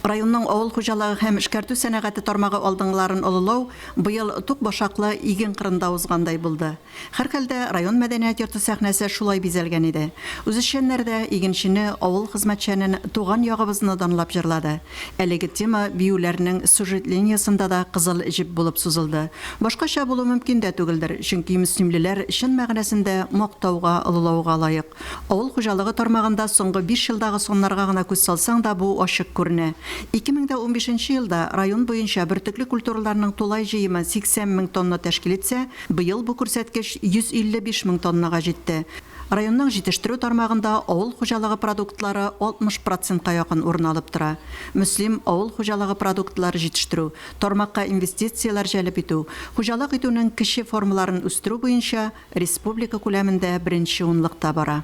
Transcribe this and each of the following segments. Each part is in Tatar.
Районның авыл хуҗалыгы һәм эшкәртү сәнәгате тармагы алдынгыларын олылау быел тук башаклы иген кырында узгандай булды. Һәрхәлдә, район мәдәният йорты сәхнәсе шулай бизәлгән иде. Үзешчәннәр дә игенчене, авыл хезмәтчәнен, туган ягыбызны данлап җырлады. Әлеге тема биюләрнең сюжет линиясендә дә кызыл җеп булып сузылды. Башкача булу мөмкин дә түгелдер, чөнки мөслимлеләр чын мәгънәсендә мактауга, олылауга лаек. Авыл хуҗалыгы тармагында соңгы биш елдагы саннарга гына күз салсаң да бу ачык күренә. Ике мең дә унбишенче нче елда район буенча бөртекле культураларның тулай җыемы 80 мең тонна тәшкил итсә, быел бу күрсәткеч 155 мең тоннага җитте. Районның җитештерү тармагында авыл хуҗалыгы продуктлары 60 процентка якын урын алып тора. Мөслим, авыл хуҗалыгы продуктлары җитештерү, тармакка инвестицияләр җәлеп итү, хуҗалык итүнең кече формаларын үстерү буенча, Республика күләмендә беренче унлыкта бара.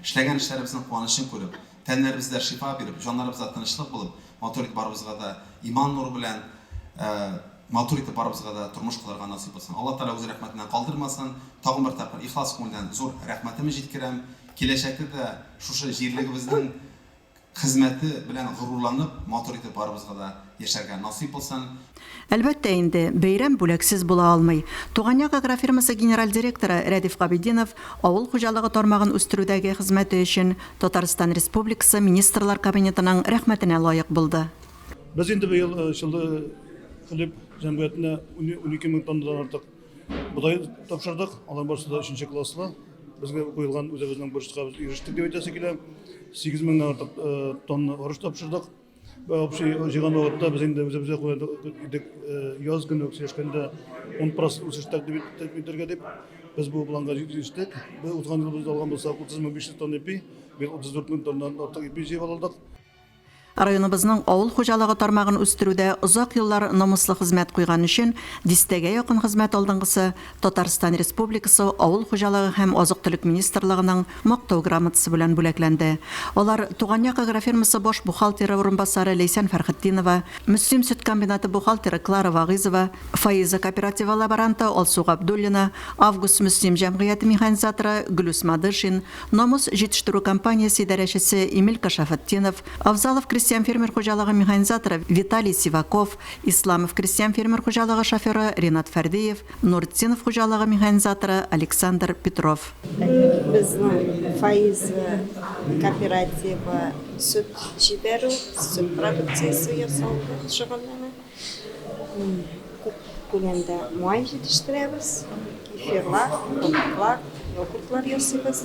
Эшләгән эшләребезнең куанычын күреп, тәннәребездә шифа биреп, җаннарыбызда тынычлык булып, матур итеп барыбызга да иман нуры белән матур итеп барыбызга да тормыш корырга насыйп булсын. Алла Тәгалә үз рәхмәтеннән калдырмасын. Тагын бер тапкыр ихлас күңелдән зур рәхмәтемне җиткерәм. Киләчәктә дә шушы җирлегебезнең Хезмәте белән горурланып, матур итеп барыбызга да яшәргә насыйп булсын. Әлбәттә инде, бәйрәм бүләксез була алмый. Туган як агрофирмасы генераль директоры Рәдиф Габетдинов авыл хуҗалыгы тармагын үстерүдәге хезмәте өчен Татарстан Республикасы Министрлар Кабинетының рәхмәтенә лаек булды. Без инде быел чаллы хлеб җәмгыятенә унике мең тоннадан артык Бодай тапшырдык, алар барысы да өченче класслы. Безгә куелган үзебезнең бурычка без ирештек дип әйтәсе килә. 8 меңнән артык э, тонна арыш тапшырдык. Общий җыйган вакытта без инде үзебезгә куйдык идек э, яз көне сөйләшкәндә 10% үсеш тәкъдим иттек итәргә дип. Без бу планга җиттек. Без узган ел без алган булсак 30 мең 500 тонна ипи, быел 34 мең тоннадан артык ипи җыеп алдык. Районыбызның авыл хуҗалыгы тармагын үстерүдә озак еллар намуслы хезмәт куйган өчен дистәгә якын хезмәт алдынгысы Татарстан Республикасы Авыл хуҗалыгы һәм азык-төлек министрлыгының Мактау грамотасы белән бүләкләнде. Алар Туган як агрофирмасы баш бухгалтеры урынбасары Ләйсән Фәрхетдинова, Мөслим сөт комбинаты бухгалтеры Клара Вагыйзова, Фаиза кооперативы лаборанты Алсу Габдуллина, Август Мөслим җәмгыяте механизаторы Гөлүс Мадышин, Намус җитештерү компаниясе идарәчесе Эмилька Шафатдинов, Авзалов крестьян-фермер хуҗалыгы механизаторы Виталий Сиваков, Исламов крестьян-фермер хуҗалыгы шоферы Ринат Фәрдиев, Нуртдинов хуҗалыгы механизаторы Александр Петров. Безнең Фаиз кооперативы сөт җибәрү, сөт продукциясе ясау белән шөгыльләнә. Күп күләмдә май җитештерәбез, кефирлар, кундаклар, йогуртлар ясыйбыз.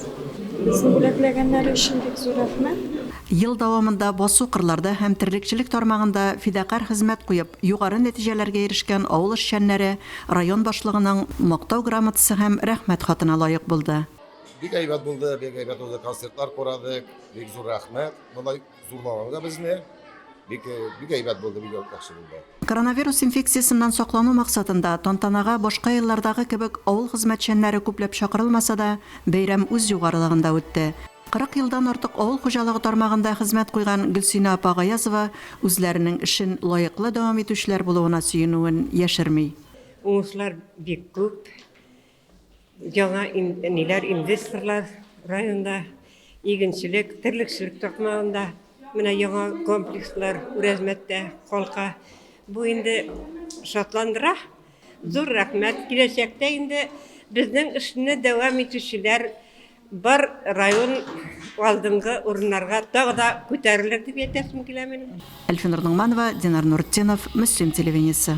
Безне бүләкләгәннәре өчен бик зур рәхмәт! Ел дәвамында басу-кырларда һәм терлекчелек тармагында фидакарь хезмәт куеп, югары нәтиҗәләргә ирешкән авыл эшчәннәре район башлыгының Мактау грамотасы һәм Рәхмәт хатына лаек булды. Бик әйбәт булды, бик әйбәт булды, концертлар курадык, бик зур рәхмәт, болай. Зурбабабыз безне бик бик әйбәт булды, бик яхшы булды. Коронавирус инфекциясеннән саклану максатында, тантанага башка еллардагы кебек авыл хезмәтчәннәре күпләп чакырылмаса да, бәйрәм үз югарылыгында үтте. 40 елдан артык авыл хуҗалыгы тармагында хезмәт куйган Гөлсинә апа Гаязова үзләренең эшен лаеклы дәвам итүчеләр булуына сөенүен яшерми. Уңышлар бик күп. Яңа ниләр инвесторлар районда игенчелек, терлекчелек токмагында менә яңа комплекслар Үрәзмәттә калка. Бу инде шатландыра. Зур рәхмәт. Киләчәктә инде безнең эшне дәвам итүчеләр бар район алдынгы урыннарга тагы да күтәрелер дип әйтәсем килә минем. Әлфинур Ногманова, Динар Нуртдинов, Мөслим телевидениесе.